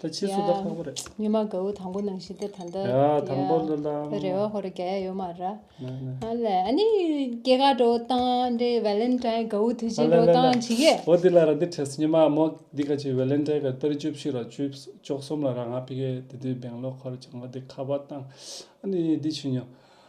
ད་ཕྱིས་སུ་ད་ཁག་པོ་རེད། ཉི་མ་གའུ་དང་པོ་ནང་བཞིན་ཏེ་ད་འདི། ཡ་དང་པོ་ལ་ལ། ཡ་རེ་བ་ཧོ་རེ་ག་ཡ་ཡོད་མ་ར། ཨ་ལས་ཨ་ནི་སྐྱེ་རྒ་འགྲོ་སྟངས་འདི་བལ་ལན་ཏྲའི་གའུ་དུས་ཆེན་འགྲོ་སྟངས་ཇི་གེ། ཨོ་དེ་ལ་ར་འདི་ཁྲེས་ཉི་མ་མོ་འདི་ག་ཆེ་བལ་ལན་ཏྲའི་གའུ་སྟར་བཅུ་བཞི་ར་བཅུ་བཅོ་གསུམ་ལ་ར་ང་ཕི་གེ་དེ་དུས་སྦེང་ལོ་ཁོར་བྱང་བ་འདི་ཁ་བ་སྟངས་ཨ་ནི་འདི་ཆུ་ཉོ།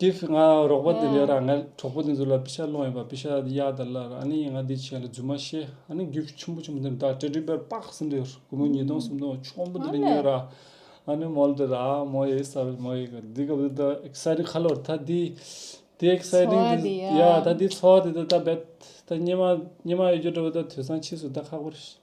དེ་ཕྱིར་ང་རོགས་པ་དེ་འདྲས་ར་ང་གྲོགས་པོ་དེ་ཚོ་ལ་ཕི་ཤ་སློང་ཡོད་པ་ཕི་ཤ་གཡག་དེ་ལ་ར་ནི་ང་དེ་བྱས་ལ་རྫུན་མ་བཤད་ཨ་ནི་རྒྱུགས་ཁྱི་ཆུན་པོ་ཆུན་པོ་དེ་འདྲས་ཏྲི་ཏྲི་བེར་པགས་ཟིན་འདྲས་རུ་མོ་ཉིས་སྟོང་སུམ་སྟོང་ཆོམ་པོ་དེ་འདྲས་ཉོས་ར་ཨ་ནི་མོལ་དེ་ར་མོ་ཡེ་ས་རུ་མོ་ཡེ་གི་དེ་ག་བུ་ད་ཨེག་སའི་རིང་ཁ་ལོ་རུ་ད་དེ་དེ་ཨེག་སའི་རིང་དེ་ཡ་ད་དེ་འཚོ་བ་དེ་ད་ད་བེད་ད་སྙེ་མ་སྙེ་མ་ཡོད་རྒྱུ་འདྲ་བུ་ད་དུས་སང་ཕྱིས་སུ་ད་ཁག་པོ་རེད།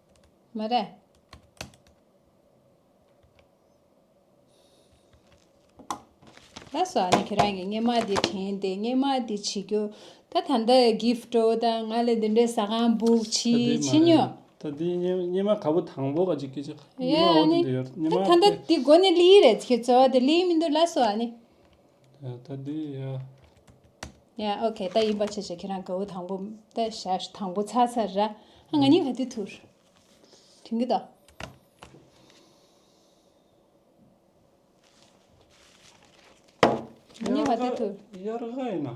མ་རེད། ད་སོ་ཨ་ནི་ཁྱེད་རང་གི་སྙེ་མ་དེ་དྲན་ཏེ་སྙེ་མ་དེ་བྱེད་རྒྱུ། ད་ད་འདི gift འོ་ད་ང་ལ་འདི་འདྲའི་ཟ་ཁང་འབུག་ད་བྱེད་འདི་མ་བྱེད་རེད། ཉོ། ད་འདི་སྙེ་སྙེ་མ་ག་བུ་དང་པོ་ག་ཅིག་སྐད་ཅིག་སྙེ་མ་འོ་ད་འདི་ཡོད་སྙེ་མ་ད་ད་འདི་དགོ་ནི་ལི་ཡི་རེད་ཁྱོད་ཚོ་འོ་ད་ལི་མི་འདུག་ལ་སོ་ཨ་ནི། ད་དེ་ཡ། ཡ་ཨོ་ཁེ་ད་ཡིན་པ་བྱས་བྱས་ཁྱེད་རང་ག་བོ་དང་པོ་ད་ཞར་དང་པོ་ཚར་ཚར་ར་ཧ་ང་ཉིན་ག་དུས་ཐུར་དུན་གི་ད། ང་ཉིན་ག་དུས་ཐུར། དབྱར་ཁ་ཡིན་ན།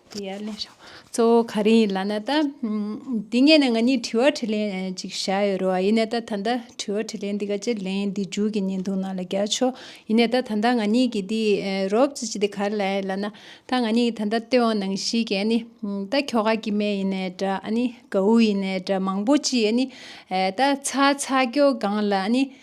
དེ་ཡར་ལེན་ཤོག་གཙོ་བོ་ག་རེ་ཡིན་ལགས་ན་ད། དེ་སྔས་ནས་ང་གཉིས་དྲི་བ་དྲི་ལན་ཅིག་བྱ་ཡོད་རོ་ཨ་ཡིན་ནས་ད་ད་ལྟ་དྲི་བ་དྲི་ལན་འདི་ག་ཅེར་ལེན་འདི་འཇུག་གི་ཉིན་འདུག་ནང་ལ་རྒྱག་ཆོག་ཡིན་ནས་ད་ད་ལྟ་ང་གཉིས་ཀྱི་འདི་རོབ་ཙི་ཅི་དེ་ག་རེ་ལ་ཡིན་ལགས་ན་ད་ང་གཉིས་ཀྱི་ད་ད་སྟོད་འོང་ནང་བཞིན་གྱི་ཨ་ནི་ད་ཁྱོ་ག་ཀྱི་མེ་ཡིན་ནས་འདྲ་ཨ་ནི་གའུ་ཡིན་ནས་འདྲ་མང་པོ་ཅི་ཨ་ནི་ད་ཚ་ཚ་ཀྱོ་གང་ལ་ཨ་ནི།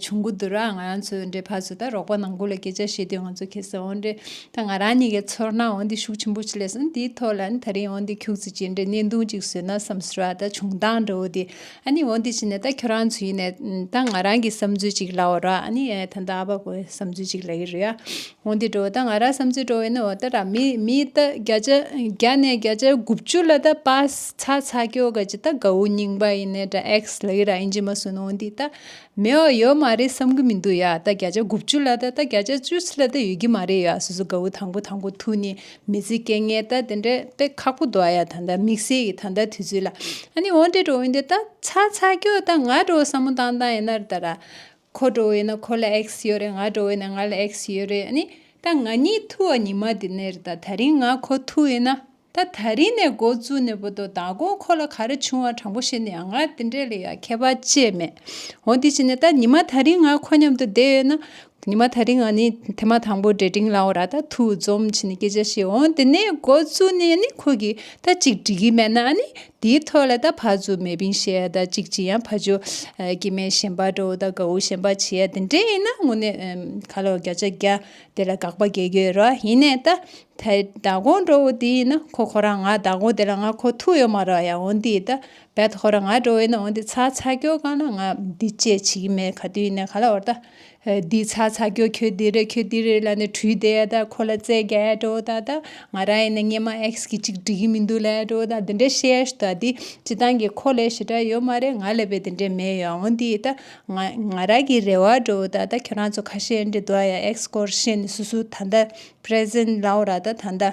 ཆུང་གུ་དུ་ར་ང་རང་ཚོའི་འདྲའི་ཕ་ཚོ་དང་རོགས་པ་ནང་ཁུལ་ལ་སྐད་ཆ་བྱས་དུས་ང་ཚོ་ཁེ་སི་ཨོ་འདྲེ་དང་ང་རང་གཉིས་ཀའི་ཚོར་སྣང་ཨོ་འདི་ཤུགས་ཆེན་པོ་ཆེ་ལས་སོང་འདིའི་ཐོག་ལ་ནི་ད་རིང་ཨོ་འདི་ཁྱུག་ཙི་ཅི་འདྲའི་གནད་དུང་ཅིག་བཟོས་ན་བསམ་ཟོལ་བ་དང་བྱུང་སྟངས་འདྲ་བོ་འདི་ཨ་ནི་ཨོ་འདི་ཅི་ནས་ད་ཁྱོད་རང་ཚོ་ཡིན་ནས་ད་ང་རང་གི་བསམ་ཚུལ་ཅིག་ལབ་བ་རོགས་ཨ་ནི་ད་ད་ཨ་ཕ་བུ་བསམ་ཚུལ་ཅིག་ལབ་ཡི་རེད་ཨ་ཧོང་ཏི་ཀྲོའུ་དང་ཨ་རག་བསམ་ཚུལ་བཀྲོལ་བའི་འོག་ཏུ་མི་མི་ཏི་བརྒྱ་ནས་བརྒྱ་ཆ་དགུ་བཅུ་ལ་པ་ཚ་ཚ་ཀྱོ་ག་ཅི་ད་གའུ་རྙིང་པ་ཡིན་ནས་ད་ཨེག་སི་ལི་ར་ཨིན་ཇི་མ་སུན་ཧོང་ཏི་ད་མེ་འོ་ཡོད་མ་རེད་བསམ་གི་མི་འདུག་ཡ་ད་བརྒྱ་ཆ་དགུ་བཅུ་ལ་ད་བརྒྱ་ཆ་བཅུ་ཚི་ལ་ད་ཡོད་ཀྱི་མ་རེད་ཡ་སུ་སུ་གའུ་དང་པོ་དང་པོ་ཐུག་ནི་མི་ཚི་སྐད་ངན་ད་དེ་འདྲས་པས་ཁག་པོ་འདུག་ཨ་ཡ་ད་ད་དམིགས་བསལ་གྱི་ད་ད་དུས་ཚོད་ལ་ཨ་ནི་ཧོང་ཏི་ཀྲོའུ་ཡིན་ཏེ་ད་ཚ་ཚ་ཀྱོ་ད་ང་ཀྲོའུ་བསམ་མོ་ཏང་ཏང་ཡིན་ན་ར་ད་ར་ཁོ་འགྲོ་བས་ན་ཁོ་ལ་ཨེག་སི་ཡོད་རེད་ང་འགྲོ་བས་ན་ང་ལ་ཨེག་སི་ཡོད་རེད་ཨཱ་ནི། ད་ང་གཉིས་ཐུག་ཨ་ཉི་མ་དེ་ནས་རེད་ད་ད་རིང་ང་ཁོ་ཐུག་ཡིན་ན། ད་ད་རིང་ནས་མགོ་བཙུགས་ནས་བོད་དོ་དང་གོང་ཁོ་ལ་ག་རེ་བྱུང་བ་དྲང་པོ་ཤེས་ནས་ཡང་ང་དེ་འདྲས་ལ་ཡང་ཁྱད་པར་བཅས་མེད། འོ་དེ་བྱས་ནས་ད་ཉི་མ་ད་རིང་ང་ཁོ་མཉམ་དུ་བསྡད་ཡོད་ན། ཉི་མ་ད་རིང་ཨཱ་ནི་དེ་མ་དང་པོ་འདྲེ་འབྲིང་ལའོ་ར་ད་ཐུག་འཛོམས་བྱས་ནས་སྐད་ཆ་བཤད་འོང་དེ་ནས་མགོ་བཙུགས་ནས་ཨཱ་ནི་ཁོ་གིས་ད་ཅིག་འགྲིག་གི་མེད་ན་ཨཱ་ནི་དེའི་ཐོད་ལ་ད་བྷ་ཛུ་མེ་བིང་ཞེས་ཡ་ད་ཅིག་ཅི་ཡང་བྷ་ཇོ་ཀི་མེ་ཞེན་པ་ཏྲོ་ད་ག་འུ་ཞེན་པ་ཆི་ཡ་དེ་འདྲས་ཡིན་ན་དངོས་གནས་ག་ལོ་བརྒྱ་ཆ་བརྒྱ་དེ་ལ་དགག་པ་བརྒྱད་རྒྱུ་ཡོད་རོ་ཡིན་ནས་ད་དེ་ད་གོང་ཏྲོ་འུ་དེ་ཡིན་ན་ཁོ་ཁོ་རང་ང་ད་གོང་དེ་ལ་ང་ཁོ་ཐུག་ཡོད་མ་རོ་ཡ་འོན་དེ་ད་བད་ཁོ་རང་ང་ཏྲོ་འུ་ཡིན་ན་འོན་དེ་ཚ་ཚ་ཀྱོ་གང་ན་ང་འདི་བཅས་བྱེད་ཀྱི་མེད་ག་དུས་ཡིན་ནས་ག་ལ་འོར་ད་འདི་ཚ་ཚ་ཁྱོད་ཁྱོད་འདི་རེད་ཁྱོད་འདི་རེད་ལ་ནི་ཁྲུས་དེ་ད་ཁོ་ལ་རྩེ་རྒྱ་དྲོ་ད་ད་ང་ར་ཡིན་ན་སྙེ་མ་ཨེགས་གི་ཅིག་འགྲིག་གི་མི་འདུག་ལ་དྲོ་ད་འདི་འདྲ་བཤད་ད་འདི་སྤྱི་ཐང་གི་ཁོ་ལས་ཞི་དྲག་ཡོད་མ་རེད་ང་ལས་པའི་འདི་འདྲ་མེད་ཡོང་ཨོ་འདི་ད་ང་ར་གི་རེ་བ་དྲོ་ད་ད་ཁྱོད་རང་ཚོ་ཁ་ཤས་འདྲི་དོ་ཡ་ཨེགས་སྐོར་བཤད་ནི་སུ་སུ་ད་ད present ལའོ་ར་ད་ད་ད།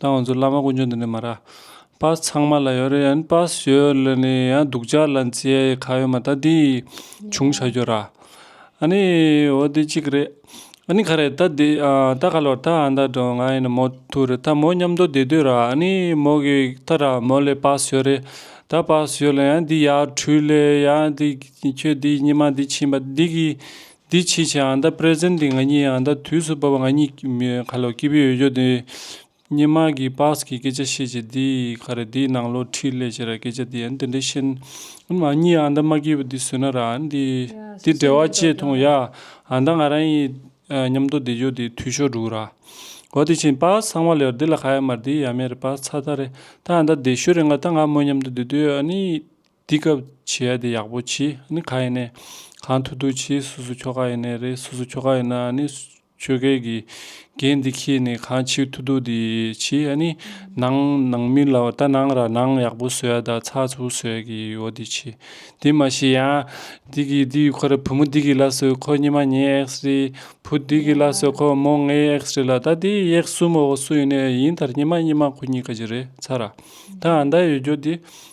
ད་ང་ཚོ་བླ་མ་དཀོན་མཆོག་འདི་ནས་མ་རག་པ་ཚང་མ་ལ་ཡོད་རེད་ཡན་པ་ཞོས་ལ་ནི་ཡང་སྡུག་ཅག་ལ་མཚེ་ག་ཡོད་མ་ད་འདི་བྱུང་བྱ་རྒྱུ་ར་ཨ་ནི་འོ་འདི་གཅིག་རེད་ཨ་ནི་ག་རེད་ད་འདི་ད་ག་ལོར་ད་ཨ་མདའ་འགྲོ་ང་ཡིན་མོ་ཐུག་རེད་ད་མོ་མཉམ་འདོ་བསྡད་དུས་ར་ཨ་ནི་མོ་གི་ད་ར་མོ་ལས་པ་ཞོས་རེད་ད་པ་ཞོས་ལ་ཡང་འདི་ཡག་འཕྲུལ་ལས་ཡང་འདི་ཁྱོད་འདི་ཉི་མ་འདི་ཕྱིན་པ་འདི་གི་འདི་ཕྱིས་ཆད་ཨང་རྟགས Present འདི་ང་གཉིས་ཨང་རྟགས་དུས་སུ་བབས་ང་གཉིས་ཁ་ལོ་སྐྱིད་པོ་ཡོད་རྒྱུ་འདི་སྙན་དམག་གིས Pass གི་སྐད་ཆ་བཤད་ཅིག་འདི་ག་རེད་འདིའི་ནང་ལོ་ཁྲིད་ལས་བྱེད་ར་སྐད་ཆ་འདི་ཡ་འདི་འདྲའི་ཤེས་ན་ང་གཉིས་ཨང་རྟགས་མ་སྐྱིད་པོ་འདི་བཟོས་ན་ར་འདི་འདི་འབྲེལ་བ་ཅེས་ཐོང་ཡ་ཨང་རྟགས་ང་རང་ཡི་ཉམས་རྟོགས་འདི་ཇོ་འདི་དུས་ཤོག་འགྲུག་ར་འོ་དེ་བྱིན Pass ཚང་མ་ལེའོ་འདི་ལ་ག་ཡ་མ་རེད་འདི་ཡ་མེ་རེད Pass ཚ་ཚ་རེད་ད་ཨང་རྟགས་འདི་ཤོད་རེད་ང་ད་ང་མོ་ཉམས་རྟོགས་འདི་དུས་ཨ་ནི། འདི་སྐབས་བྱེད་ཡ་དེ་ཡག་པོ་བྱེད་ནི་ག་ཡིན་ནས་གང་ཐུག་ཐུག་བྱེད་སུ་སུ་ཁྱོ་ག་ཡིན་ནས་རེད་སུ་སུ་ཁྱོ་ག་ཡིན་ན་ནི་ཆོལ་ཁའི་དགེ་རྒན་འདི་ཁྱེད་ནས་གང་བྱེད་ཐུག་ཐུག་དེ་བྱེད་ཡ་ནི་ནང་ནང་མི་ལ་བལྟ་ནང་ར་ནང་ཡག་པོ་བཟོ་ཡ་དང་ཚགས་ཚུགས་བཟོ་ཡ་གི་ཡོ་དེ་བྱེད་དེ་མ་བྱེད་ཡ་འདི་གི་འདི་ཁོ་ར་བུ་མོ་འདི་གི་ལ་སོས་ཁོ་གཉིས་མ་གཉིས་ཨེགས་རེད་བུ་འདི་གི་ལ་སོས་ཁོ་མོ་ལྔས་ཨེགས་རེད་ལ་ད་དེ་ཡེགས་སུ་མོ་བ་སུ་ཡིན་ནས་ཡིན་ད་གཉིས་མ་གཉིས་མ་ཁོ་གཉིས་ཀ་གྱི་རེད་ཚ་ར་ད་ཨ་མདའ་ཡོད་རྒྱོ་དེ་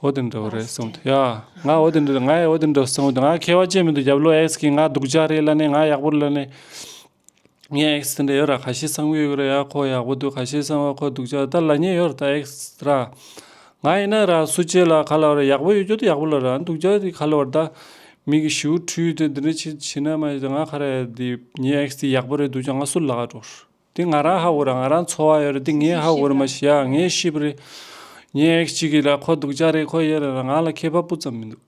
འོ་དེ་འདྲ་བོ་རེད་གསུངས་དུས་ཡ། ང་འོ་དེ་འདྲ་རེད་ང་ཡང་འོ་དེ་འདྲ་གསུངས་དུས་ང་མཁས་བ་ཅན་མི་འདུག་རྒྱབ་ལོ་ཨེག་སི་གིས་ང་སྡུག་ཅག་རེད་ལབ་ནས་ང་ཡག་པོར་ལབ་ནས། ངས་ཨེག་སི་དེ་འདྲ་ཡོད་ར་ག་ཤེད་གསང་གི་ཡོད་གི་རེད་ཡ་ཁོ་ཡག་པོ་འདུག་ག་ཤེད་གསང་བ་ཁོ་སྡུག་ཅག་རེད་ད་ལ་ཉེས་ཡོད་ར་ད་ཨེག་སི་ར། ང་ཡིན་ན་ར་སུ་བྱེད་ལ་ག་ལ་བ་ར་ཡག་པོ་ཡོད་རྒྱུ་དེ་ཡག་པོ་ལབ་ར་སྡུག་ཅག་དེ་ག་ལ་བ་ར་ད། མིག་གི་ཞུ་བོ་འཁྲུལ་ཡོད་དེ་འདི་འདྲ་བྱེད་བྱེད་ན་མ་ཡོད་དེ་ང་ཁ་ར་ཡ་དེ་ཉེས་ཨེག་སི་དེ་ཡག་པོ་རེད་སྡུག་ཅག་ང་སུ་ལ་ག་འགྲོ། དེ་ང་རང་ཧ་འུར་ང་རང་འཚོ་བ་ཡོད་རེད་དེ་ངས་ཧ་འུར་མ་ཤེས་ཨ་ངས་ཤེས་པ་རེད། ངའི་ཨེག་གཅིག་གི་ལ་ཁོ་སྡུག་ཅག་རེད་ཁོ་ཡེ་རེད་ར་ང་ལ་མཁས་པ་སྤུ་ཙམ་མི་འདུག་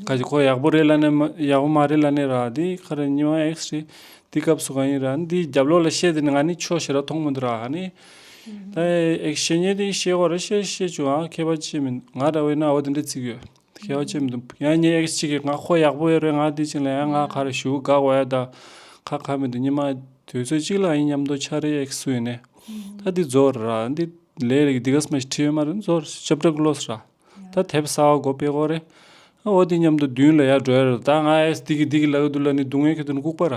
ཁ་ཅིག་ཁོ་ཡག་པོ་རེད་ལ་ནས་ཡག་པོ་མ་རེད་ལ་ནས་ར་དེ་ཁ་རེད་ཉི་མ་ཨེག་རེད་དེའི་སྐབས་སུ་གང་ཡིན་ར་འདིའི་རྒྱབ་ལོག་ལ་བཤད་དེ་ནས་ང་ནི་ཆོས་བཤད་ར་མཐོང་མི་འདུག་ར་ཨ་ནི། ད་ཨེག་བཤད་ཉེས་དེ་བཤད་ཁོ་ར་བཤད་བཤད་བྱུང་ཨ་མཁས་པ་ཅི་མི་འདུག་ང་ར་བས་ན་འོ་དེ་འདྲའི་ཚིག་ཡོད། ཤེས་བྱ་ཅན་དུ། ཡང་ཉིན་ཨེག་གཅིག་གིས་ང་ཁོ་ཡག་པོ་ཡོད་རེད་ང་དེ་ཅིག་ལ་ཡང་ང་གར་བཞུགས་དགའ་བ་ཡོད་ད། ཁ་ཁ་མེད་དུ་ཉི་མ། དུས་ཚོད་གཅིག་ལ་ཡིན་སྙམ་མདོ་ཆ་རེད་ཨེག་སུ་ཡིན་ནས། ད་འདི་རྫོགས་རེད་ར་འདི། ལས་རེད་འདི་ག་སྨྲ་ཞིག་ཁྲིད་ཡོད་མ་རེད་རྫོགས་རེད་ཞབས་བྲག་གློ་སོ་ར། ད་དེབ་གསར་བ་གོ་པེ་གོ་རེད། ཨོ་དེ་སྙམ་དུ་བདུན་ལ་ཡར་འགྲོ་ཡ་རེད་ད་ང་ཨེས་འདི་གི་འདི་གི་ལ་གི་འདུག་ལ་ནི་སྡུག་བསྔལ་གྱི་དུ་ནི་ལྐུགས་པ་ར།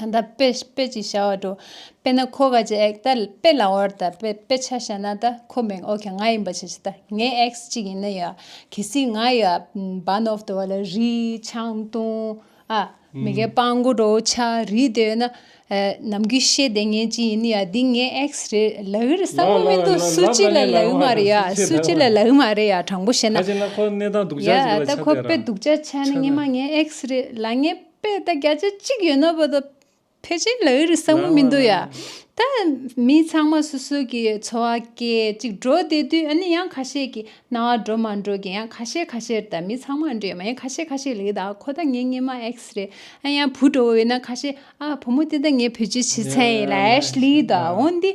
ད་ལྟ་དཔེ་དཔེ་ཅིག་བྱ་བར་སྤྲོ། དཔེར་ན་ཁོ་ག་ཅིག་ཨེག་ད་དཔེ་ལ་བར་ད་དཔེ་དཔེ་ཆ་བྱ་ན་ད་ཁོ་མིང་ཨོ་ཁ་ང་ཡིན་པ་ཆ་ཆ་ད་ངའི་ཨེག་ཅིག་ཡིན་ན་ཡ། གལ་སྲིད་ང་ཡ་བ་ནོབ་ཏུ་བ་ལ་རི་ཆང་ཏུང་ཨ། མི་ག་པང་མགོ་དྲོ་ཆ་རི་དེ་ཡོད་ན། ནམ་གུས་ཤེས་དེ་ངའི་ཅིག་ཡིན་ན་ཡ་འདི་ངའི་ཨེག་རེད་ལ་ཨི་རེད་བསམ་བློ་མི་འདུག་སུ་ཅིག་ལ་ལ་ཨི་མ་རེད་ཡ་སུ་ཅིག་ལ་ལ་ཨི་མ་རེད་ཡ་དྲང་པོ་བཤད་ན། ཡ་ད་ཁོ་དཔེ་སྡུག་ཅག་བྱ་ན་ངའི་མ་ངའི་ཨེག་རེད་ལ་ངའི། པས་ད་བརྒྱ་ཆ་གཅིག་ཡོད་ན་བོད་དང་ཕལ་ཆེར་ལ་ཡོད་རེད་བསམ་གྱི་མི་འདུག་ཡ། ད་མི་ཚང་མ་སོ་སོ་གི་འཚོ་བ་སྐད་ཅིག་འགྲོ་བསྡད་དུས་ཨ་ནི་ཡང་ཁ་ཤས་ཀྱི་སྣང་བ་འགྲོ་མ་འགྲོ་གི་ཡང་ཁ་ཤས་ཁ་ཤས་ད་མི་ཚང་མ་འདྲེས་མ་ཡང་ཁ་ཤས་ཁ་ཤས་ལེགས་ད་ཁོ་ད་ངའི་སྙེ་མ་ཨེགས་རེད་ཨ་ཡང་བུ་འགྲོ་བོ་ཡོད་ན་ཁ་ཤས་ཨ་བུ་མོ་དེ་ད་ངའི་བུ་ཆུ་བྱི་ཚན་ཡིན་ལ་ཨེས་ལེགས་ད་འོན་ཏེ་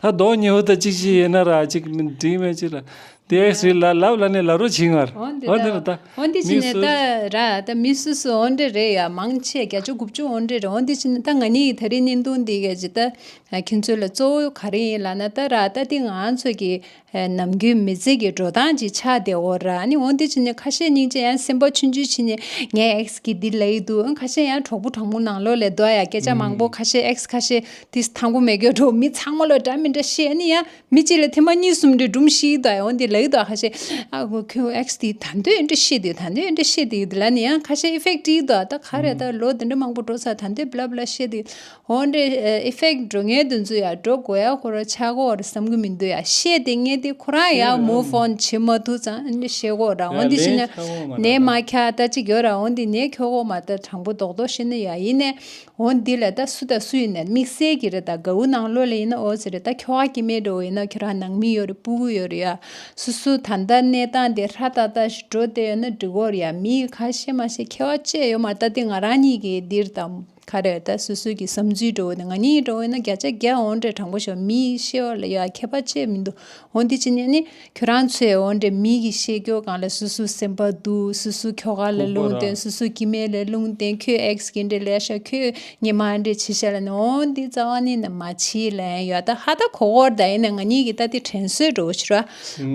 ད་གདོང་ཉི་ཧོ་ད་ཅིག་ཅིག་ཡེ་ན་ར་ཅིག་འབྲིང་མན་ཅིག་ལ། དེ་ཨེག་སི་ལ་ལབ་ལ་ནི་ལ་རོ་བྱིང་ངར། འོན་ཏེ་ད། འོན་ཏེ་ཅི་ནས་ད་ར་ད་མི་སུ་སུ་འོན་ཏེ་རེད་ཡ་མང་ཆེ་བརྒྱ་བཅུ་དགུ་བཅུ་འོན་ཏེ་རེད་འོན་ཏེ་ཅི་ནས་ད་ང་ནི་ད་རིང་ནི་འདུག་འདི་ག་ཅིག་ད་ཁྱེད་ཚོ་ལ་གཙོ་བོ་ག་རེ་ཡིན་ལ་ན་ད་ར་ད་དེ་ང་ཚོ་གི་ནམ་རྒྱུན་མི་ཚེ་གི་འགྲོ་སྟངས་ཀྱི་ཆ་དེ་འོ་ར་ནི་འོ་འདི་ཅི་ནི་ཁ་ཤས་སྙིང་རྗེ་ཡང་སེམས་པ་ཆུང་ཆུང་བྱེད་ནི་ངའི་ཨེགས་ཀྱི་འདི་ལ་ཡིད་དུ་ཁ་ཤས་ཡང་གྲོགས་པོ་གྲོགས་མོ་ནང་ལོགས་ལས་ལྡོག་ཡ་སྐད་ཆ་མང་པོ་ཁ་ཤས་ཨེགས་ཁ་ཤས་དིས་དང་པོ་མེད་གི་འགྲོ་མི་ཚང་མ་ལོ་འདྲ་མི་འདྲ་ཤེས་ནི་ཡ་མི་གཅིག་ལ་ཐེངས་མ་གཉིས་གསུམ་འདྲ་སྒྲུང་ཤིག་ལྡོག་ཡ་འོ་འདི་ལ་ཡིད་དུ་ཁ་ཤས་ཨ་ཁུ་ཁྱོད་ཨེགས་དིས་ད་འདོད་ཡོད་འདྲ་ཤེས་དིས་ད་འདོད་ཡོད་འདྲ་ཤེས་དིས་འདི་ལ་ནི་ཡ་ཁ་ཤས་ཨིཕེག་ཏིས་ལྡོག་ད་ག་རེ་ད་ལོ་འདི་འདྲ་མང་པོ་འགྲོ་ཚར་ད་འདོད་བླ་བླ་ཤེས་དིས་འོན་ཏེ effect འགྲོ་ངེས་དུ་འཛུལ་ཡང་འགྲོ་དགོས་ཡ་ཁོ་རང་ཆག་གོ་ར་བསམ་གི་མི་འདུག་ཡ་ཤེས་ཏེ་ངེས་ཏེ་ཁོ་རང་ཡང move on བྱེད་མ་ཐུབ་ཙང་ཤེས་གོ་ར་འོན་ཏེ་ཤེས་ན་ནད་མ་ཁྱ་ལྟ་ཅི་གྱོ་ར་འོན་ཏེ་ནད་ཁྱོ་གོ་མ་ལྟ་དྲང་པོ་རྡོག་རྡོག་ཤེས་ན་ཡ་ཡིན་ནའི་འོན་འདི་ལ་ད་སུ་ད་སུ་ཡིན་ནའི་དམིགས་བསལ་གྱི་ར་ད་གའུ་ནང་བློ་ལ་ཡིན་ན་འོ་ཟེར་ར་ད་ཁྱོ་ག་གི་མེད་འགྲོ་ཡིན་ན་ཁྱོ་རང་ནང་མི་ཡོ་ར་སྤུ་གུ་ཡོ་ར་ཡ་སུ་སུ་ད་ལྟ་གནས་སྟངས་དེ་ཧྲ་ཏག་ཏག་ཞིག་འགྲོ་བསྡད་ཡོ་ན་འགྲིག་གོ་ར་ཡ་མི་ཡི་ཁ་ཤེས་མ་ཤེས་ཁྱེ་བ་བཅས་ཡོ་མ་ལྟ་དེ་ང་རང་གཉིས་ཀྱི་འདིར་ད། ཁ་རས་ད་སོ་སོས་ཀྱི་བསམ་ཚུལ་འགྲོ་འོད་ང་གཉིས་ཀྱི་འགྲོ་འོད་ན་བརྒྱ་ཆ་བརྒྱ་འོང་འདྲའི་དྲང་པོ་ཞོག་མི་ཡིས་ཤེས་བ་ལ་ཡ་ཁྱད་པར་ཅི་མི་འདུག་འོ་འདི་ཅི་ཉན་ནི་ཁྱོད་རང་ཚོས་འོ་འདྲའི་མི་གི་ཤེས་རྒྱོ་གང་ལ་སུ་སུ་སེམས་པ་སྡུག་སུ་སུ་ཁྱོ་ག་ལ་ལུང་བསྟན་སུ་སུ་ཀྱི་མེ་ལ་ལུང་བསྟན་ཁྱོད་ཨེགས་གི་འདྲའི་ལས་ཤོག་ཁྱོད་ཉི་མ་འདྲའི་བྱི་ཤ་ལ་ནི་འོ་འདི་རྩ་བ་ནི་ནི་མ་བྱིས་ལན་ཡོད་ད་ཧ་ད་གོ་གོར་ད་ཡིན་ན་ང་གཉིས་ཀྱི་ད་ཏི་དྲན་གསོས་འགྲོ་འོད་ཤི་ར་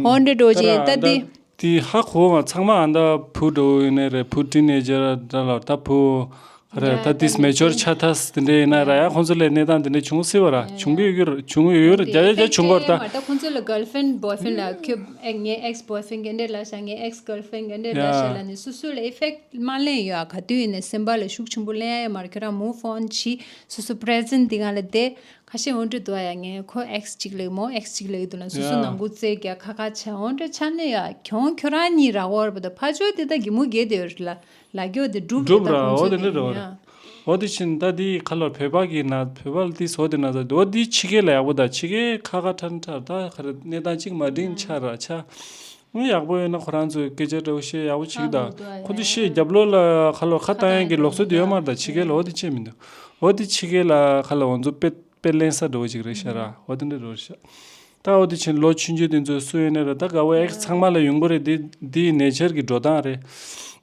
འོ་འདྲའི་འགྲོ་འོད་ཅི་ཡིན་ད་ཏི། དེ་ཧ་གོ་ང་ཚང་མ་ཨ་ད་བུ་འགྲོ་ཡིན་ནི་རེད་བུ་ཏིན་ཨེ་ཇེར་འདྲ་ལ་ད་བུ་རེད་ད་དིས་མེ་ཅོར་ཆ་དྷས་དེ་འདྲ་ཡིན་ན་ར་ཡ་ཁོང་ཚོ་ལས་གནས་སྟངས་དེ་འདྲ་བྱུང་སྲིད་པ་ར་བྱུང་གི་ཡོད་རེད་བྱུང་གི་ཡོད་རེད་རྒྱ་ཡ་རྒྱ་བྱུང་གོ་ར་ད། མ་ད་ཁོང་ཚོ་ལ་གེར་ཧྥེན་བོའི་ཧྥེན་ལ་ཁྱོད་ངའི་ཨེགས་བོའི་ཧྥེན་གེ་འདྲ་ལ་བྱ་ངའི་ཨེགས་གེར་ཧྥེན་གེ་འདྲ་ལ་བྱ་ལ་ནི་སོ་སོ་ལ་ཨེ་ཧྥེག་མ་ལན་ཡོད་ཨ་ག་དུས་ཡིན་ནི་སེམས་པ་ལ་ཤུགས་ཆེན་པོ་ལན་ཨ་ཡ་མ་ར་ཁྱོད་རང་མུ་ཧྥོན་གྱིས་སོ་སོ་ཕྲེ་ཛེན་དེ་གང་ལ་དེ་ཁ་ཤས་འོན་འགྲོ་འདུག་ཨ་ཡ་ངས་ཁོ་ཨེག་སི་གཅིག་ལེགས་མོ་ཨེག་སི་གཅིག་ལེགས་འདུག་ན་སུ་སུ་ནང་འགུག་རྩེད་རྒྱ་ཁ་ཁ་བྱས་འོན་འགྲོ་ཆ་ནས་ཡ་གྱོང་ཁྱོད་རང་གཉིས་ར་བོར་བ་དང་ཕ་ཇོ་དེ་དང་གི་མུ་གེ་དེ་ར་ལ་གྱོ་དེ་སྒྲུབ་རེ་ད་ཁོང་ཚོས་དེ་ཡིན་ཡ། འོ་དེ་ཕྱིན་ད་དེ་ཁ་ལོ་བོད་པ་གི་ན་བོད་པ་ལ་དེ་ཟོ་དེ་ན་ཟ་འོ་དེ་ཕྱི་གས་ལ་ཡག་པོ་ད་ཕྱི་གས་ཁ་ཁ་ཁྲ་ཁྲ་ད་ཁ་ར་གནས་སྟངས་གཅིག་མ་དྲིན་ཆ་ར་ཆ། དངུལ་ཡག་པོ་ཡོད་ན་ཁོ་རང་ཚོས་སྐད་ཆ་འདྲ་བོ་བཤད་ཡག་པོ་བྱེད་གི་ད་ཁོ་ཚོས་ཤེས་རྒྱབ་ལོ་ལ་ཁ་ལོ་ཁ་བཏང་ཡག་གི་ལོག་སྲོལ་དེ་ཡོད་མ་རེད་ད་ཕྱི་རྒལ་ལ་འོ་དེ་བྱེད་མི་འདུག་འོ་དེ་ཕྱི་རྒལ་ལ་ཁ་ལོ་འོ་ཚོ་དཔེ་དཔེ་གླེང་ས་འདྲ་བོ་ཅིག་རེད་ཤག་ར་འོ་དེ་འདྲ་འདྲ་བོ་རེད་ཤག་ད་འོ་དེ་བྱེད་ལོ་ཆུན་ཆུན་དེ་ཚོས་བསུ་ཡོད་ནའི་རེད་ད་དགའ་བོ་ཨེག་ཚང་མ་ལ་ཡོད་མགོ་རེད་དེ་འདི་ནས་ཆར་གི་འགྲོ་སྟངས་རེད་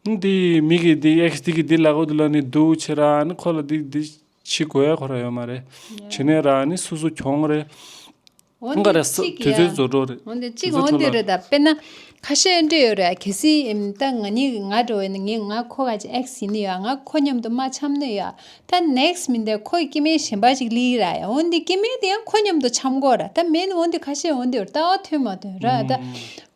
འདི་མི་གི་འདི་ཨེག་འདི་གི་འདི་ལག་འོ་དེ་ལ་ནས་འདུག་བྱེད་ར་ནི་ཁོ་ལ་འདི་འདི་བྱེད་དགོས་ཡ་གོ་ར་ཡོད་མ་རེད་བྱེད་ནའི་ར་ནི་སུ་སུ་གྱོང་རེད། འོན་ཏེ་གཅིག་གི་ཡང། འོན་ཏེ་གཅིག་འོན་ཏེ་རེད་ད། དཔེར་ན། ཁ་ཤས་འོན་ཏེ་ཡོད་རེད་གལ་སྲིད་ད་ང་གཉིས་ང་འགྲོ་བས་ན་ངས་ང་ཁོ་ག་ཅིག X ཡིན་ནི་ཡོད་ང་ཁོ་མཉམ་དུ་མ་འཆམ་ནི་ཡོད་ད next མིན་ཏེ་ཁོ་ཡི་སྐྱེ་དམན་གཞན་པ་ཅིག་ལིག་ར་ཡང་འོན་ཏེ་སྐྱེ་དམན་དེ་ཡང་ཁོ་མཉམ་དུ་འཆམ་དགོས་ར་ད་མེད་འོན་ཏེ་ཁ་ཤས་འོན་ཏེ་ཡོད་རེད་ད་འོ་ཐོན་མ་ཐོན་ར་ད།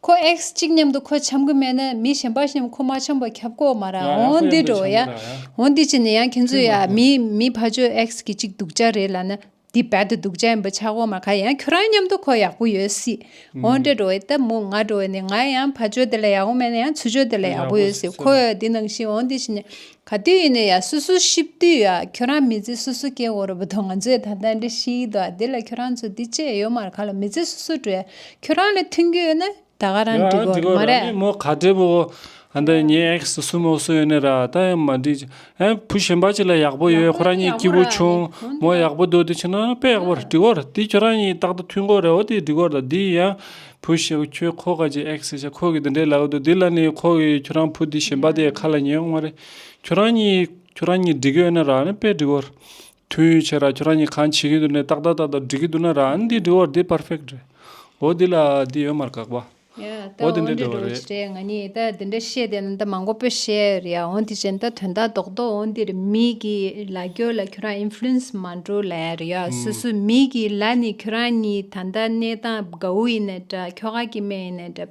ཁོ X གཅིག་མཉམ་དུ་ཁོ་འཆམ་གི་མེད་ན་མི་གཞན་པ་ཞིག་མཉམ་ཁོ་མ་འཆམ་པར་ཁྱབ་དགོས་མ་ར་འོན་ཏེ་འགྲོ་བས་ཡང་འོན་ཏེ་གཅིག་ནི་ཡང་ཁྱེད་ཚོ་ཡང་མིའི་ཕ་ཆོས X གི་གཅིག་སྡུག་ཅག་རེད་ལ་ན། འདི་བལ་དུ་འདུག་བྱ་འབུ་ཆག་སྒོ་མ་ག་ཡང་ཁྱོད་རང་མཉམ་དུ་ཁོ་ཡག་པོ་ཡོད་སྲིད་འོང་འདྲ་འགྲོ་བའི་སྟབས་མོ་ང་འགྲོ་བ་ནི་ང་ཡང་ཕ་ཆོས་དེ་ལ་ཡག་པོ་མེད་ན་ཡང་ཚུ་ཆོས་དེ་ལ་ཡག་པོ་ཡོད་སྲིད་ཁོ་ཡོད་འདི་ནང་བཞིན་འོང་འདི་བཞིན་ནས་ག་དུས་ཡིན་ནས་ཡ་སུ་སུ་ཤིབ་དུས་ཡ་ཁྱོད་རང་མི་ཚེ་སུ་སུ་སྐྱེལ་དགོས་རོ་བུ་དོ་ང་ཚོས་ད་ལྟ་འདྲི་ཤིས་དོ་ཨ་དེ་ལ་ཁྱོད་རང་ཚོ་འདི་བཅས་ཡོད་མར་ག་ལ་མི་ཚེ་སུ་སུ་འགྲོ་ཡ་ཁྱོད་རང་ལ་མཐུན་རྒྱུ་ཡོད་ན། ད་ག་རང་འགྲིག་གོ་མ་རེད། མོ་ག་འདྲེ་བོ། འདི་ངའི་ཨེག་སི་སུ་མོ་སུ་ཡོད་ནི་ར་ད་ཡང་མ་འགྲིག། ཨེ་བུ་ཞེན་པ་ཅི་ལ་ཡག་པོ་ཡོད་ཁོ་རང་གཉིས་སྐྱིད་པོ་བྱུང། མོ་ཡག་པོ་འདུག་དེ་ཕྱིན་ན་དཔེ་ཡག་པོར་འགྲིག་གོ་དེ་ཁྱོད་རང་གཉིས་རྟག་ཏུ་མཐུན་གོ་རེད་འོ་དེ་འགྲིག་གོ་ད་འདི་ཡང་བུ་ཞེ་བོ་ཁྱོད་ཁོ་ག་ཅིག་ཨེག་སི་ཞེ་ཁོ་གི་འདི་འདྲས་ལ་འོ་དོ་དེ་ལ་ནི་ཁོ་གིས་ཁྱོད་རང་བུ་འདི་ཞེན་པ་དེ་ག་ལ་ཉན་ཡོང་མ་རེད། ཁྱོད་རང་གཉིས་ཁྱོད་རང་གཉིས་འགྲིག་གི་ཡོད་ནི་ར་དཔེ་འགྲིག་གོ། ཐུགས་ཡོད་ཆེ་ར་ཁྱོད་རང་གཉིས་གང་བྱེད་ཀྱི་འདུག་ནས་ཏག་ཏག་ཏག་ཏག་འབྲི་གི་འདུག་ན་ར་ཨ་ནི་འདི་འབྲི་བར་འདི perfect རེད། འོ་འདི་ལ་འདི་ཡོད་མར་གག་པ། ཡ། འོ་འོ་འདི་འདྲ་འདི་འདྲ་འགྲོ་བ་རེད། རེད་ང་གཉིས་ད་འདི་འདྲ་བཤད་དེ་ན་ད་མང་པོ་པོས་བཤད་ཡོད་རེད་ཡ་འོ་དེ་བཞིན་ད་དོན་དག་རྡོག་རྡོག་འོ་འདིར་མི་གི་ལ་ཀྱོ་ལ་ཁྱོད་རང influence མ་འགྲོ་ལ་ཡ་རེད་ཡ་སུ་སུ་མི་གི་ལ་ནི་ཁྱོད་རང་གཉིས་ད་ལྟ་གནས་སྟངས་དགའ་བོ་ཡིན་ནའི་འདྲ་ཁྱོ་ག་གི་སྨན་ཡིན་ནའི་འདྲ།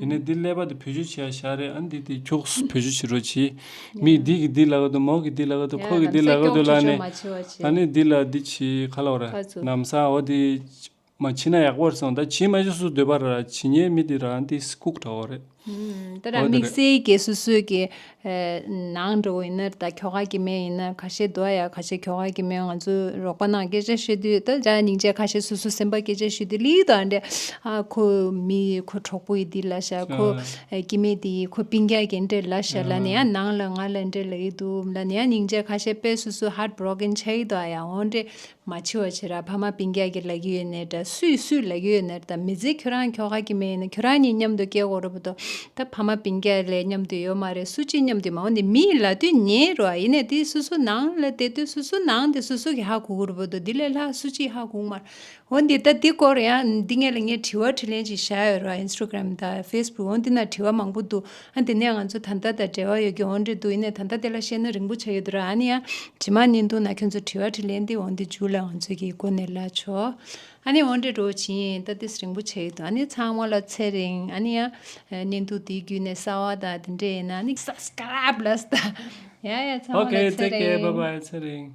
ཡིན་ནས་འདི་ཀླད་པ་དེ་བུ་ཆུ་བྱས་ཡ་ཤ་རེད་ཨ་འདི་དེ་ཁྱོགས་སུ་བུ་ཆུ་བྱེད་རོགས་གྱིས་མིག་འདི་གི་འདི་ལ་ག་དུ་མོག་གི་འདི་ལ་ག་དུ་ཁོག་གི་འདི་ལ་ག་དུ་ལ་ནས་ཨ་ནི་འདི་ལ་འདི་བྱས་ག་ལ་བ་ར་ནམ་ས་འོ་དེ་མ་བྱས་ན་ཡག་པོ་རེད་སོང་ད་བྱས་མ་བྱས་སུ་སྡོད་པ་ར་བྱས་ཉེས་མི་དེ་ར་འདི་སྐུག་དྲ་བ་རེད། ཨོ་དེ་རེད། ནང་འགྲོ་ཡིན་ནར་ད་ཁྱོ་ག་གི་མེ་ཡིན་ནར་ཁ་ཤས་འདུག་ཨ་ཡ་ཁ་ཤས་ཁྱོ་ག་གི་མེ་ང་ཚོའི་རོགས་པ་ནང་སྐད་ཆ་བཤད་དུས་ད་ཅག་སྙིང་རྗེ་ཁ་ཤས་སོ་སོ་སེམས་པ་སྐད་ཆ་ཤོད་དུས་ལིའི་དང་འདྲ་ཨ་ཁོ་མི་ཡི་ཁོ་གྲོགས་པོ་ཡི་འདི་ལ་ཤ་ཁོ་ཀྱི་མེ་འདི་ཡི་ཁོ་པིང་རྒྱག་གི་འདྲ་ལ་ཤ་ལ་ནི་ཨ་ནང་ལ་ང་ལ་འདྲ་ལ་ཡི་འདུག་ལ་ནི་ཨ་སྙིང་རྗེ་ཁ་ཤས་དཔེ་སོ་སོའི heart broken ཆགས་ཡི་འདུག་ཨ་ཡ་འོ་འདྲས་མ་འཆི་བ་ཆེ་ར་ཕ་མ་པིང་རྒྱག་གི་ལ་གི་ཡོད་ནས་འདྲ་སུས་སུས་ལ་གི་ཡོད་ནས་ད་མི་ཚེ་ཁྱོད་རང་ཁྱོ་ག་གི་མེ་ཡིན་ན་ཁྱོད་རང་གཉིས་མཉམ་དུ་སྐྱེ་དགོས་རོ་བོ་དོ་ད་ཕ་མ་པིང་རྒྱག་ལས་མཉམ་དུ་ཡོད་མ་རེད་སུ་གཅིག་མཉམ་དུ་མ་འོང་དེ་མི་ཡི་ལ་དུས་ཉེ་རོ་ཨ་ཡིན་ནས་དེ་སུ་སུ་ནང་ལ་དེ་དུས་སུ་སུ་ནང་དེ་སུ་སུ་གི་ཧ་གོ་གོ་རོ་བོ་དོ་དེ་ལས་ལྷག་སུ་གཅིག་ཧ་གོ་མར་འོང་དེ་ད་དེ་སྐོར་ཡང་འདི་ངས་ལ་ངས་དྲི་བ་དྲི་ལན་ཅིག་བཞག་ཡོད་རོ་ཨ Instagram དང Facebook འོང་དེ་ན་དྲི་བ་མང་པོ་འདུག། ཨ་དེ་ནས་ང་ཚོ་ད་ལྟ་དང་འབྲེལ་བ་ཡོད་རྒྱུ་འོང་འདྲི་འདུག་ཡིན་ནའི་ད་ལྟ་དེ་ལ་བཤད་ན་རིང་པོ་ཆགས་ཡོད་དུ་ར་ཨ་ནི་ཡང་དྲི་མ་གཉིས་འདུག་ན་ཁྱོད་ཚོ་དྲི་བ་དྲི་ལན་འདི་འོང་འདི་འཇུག་ལ་ང་ཚོས་ཀྱིས་སྒོ་ནས་ལ་ཆོག་ཨ་ནི་འོང་འདྲི་འགྲོ་བ་བྱིན་ཡིན་ད་དེས་རིང་པོ་ཆགས་ཡོད་དུ་ཨ་ནི་ཚང་མ་ལ་ཚེ་རིང་ཨ་ནི་ཡང་གནས་འདུག་དེའི་རྒྱུད་ནས་གསར་བ་དང་དེ་འདྲས་ཡིན་ན་ཨ་ནི Subscribe ལ་ཟ་ཡ་ཡ་ཚང་མ་ལ Okay ཚེ take care bye རིང bye ཚེ་རིང།